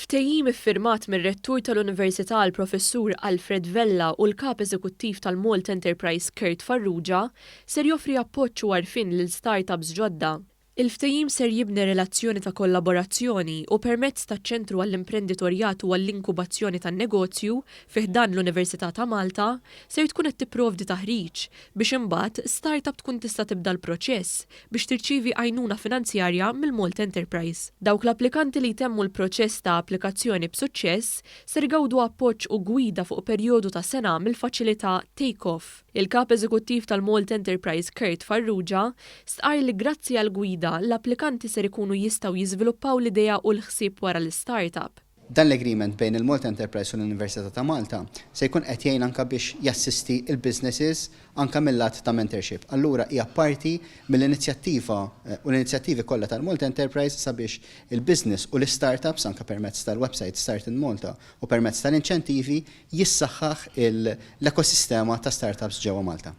Ftehim iffirmat mir-Rettur tal-Università l-Professur Alfred Vella u l-Kap Eżekuttiv tal-Malt Enterprise Kurt Farrugia ser joffri appoġġ u għarfien lil start-ups ġodda. Il-ftehim ser jibni relazzjoni ta' kollaborazzjoni u permezz taċ-Ċentru għall-Imprenditorjat u għall-Inkubazzjoni tan-Negozju fi ħdan l-Università ta' Malta ser tkun qed tipprovdi taħriġ biex imbagħad start-up tkun tista' tibda l-proċess biex tirċievi għajnuna finanzjarja mill-Malta Enterprise. Dawk l-applikanti li jtemmu l-proċess ta' applikazzjoni b'suċċess ser igawdu appoġġ u gwida fuq perjodu ta' sena mill-faċilità Take Off. Il-Kap Eżekuttiv tal-Malta Enterprise Kurt Farrugia stqarr li grazzi għall-gwida, l-applikanti ser ikunu jistgħu jiżviluppaw l-idea u l-ħsieb wara l-istartup. Dan l-agreement bejn il-Malta Enterprise u l-Università ta' Malta se jkun qed jgħin anke biex jassisti l-businesses anke mil-lat ta' mentorship. Allura hija parti mill-inizjattiva u l-inizjattivi kollha tal-Malta Enterprise sabiex il-business u l-istartups anke permezz tal-website Start in Malta u permezz tal-inċentivi jissaħħaħ l-ekosistema ta' startups ġewwa Malta.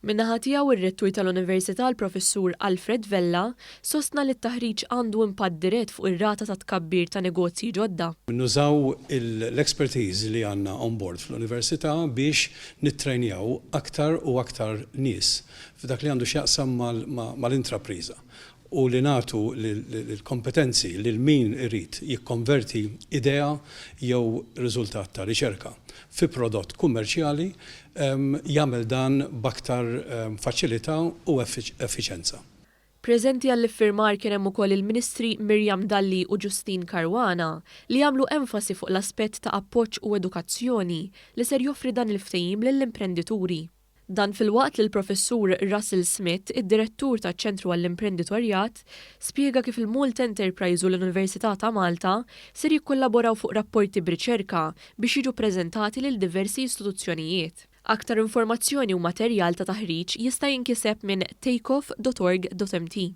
Min-naħa tiegħu r-Rettur tal-Università l-Professur Alfred Vella sostna li t-taħriġ għandu impatt dirett fuq ir-rata ta' tkabbir ta' negozji ġodda. Nużaw l-expertise li għandna on board fl-Università biex nittrejnjaw aktar u aktar nies f'dak li għandu x'jaqsam mal-intrapriża u li nagħtu l-kompetenzi lil min irid jikkonverti idea jew riżultat ta' riċerka fi prodott kummerċjali jagħmel dan b'aktar faċilità u effiċenza. Preżenti għall-iffirmar kien hemm ukoll il-Ministri Miriam Dalli u Justyne Caruana li għamlu enfasi fuq l-aspett ta' appoġġ u edukazzjoni li ser joffri dan il-ftehim lill-imprendituri. Dan filwaqt li l-Professur Russell Smith, id-Direttur taċ-Ċentru għall-Imprenditorjat, spjega kif il-Malta Enterprise u l-Università ta' Malta ser jikkollaboraw fuq rapporti b'riċerka biex jiġu ppreżentati lil diversi istituzzjonijiet. Aktar informazzjoni u materjal ta' taħriġ jista' jinkiseb minn takeoff dot org dot mt.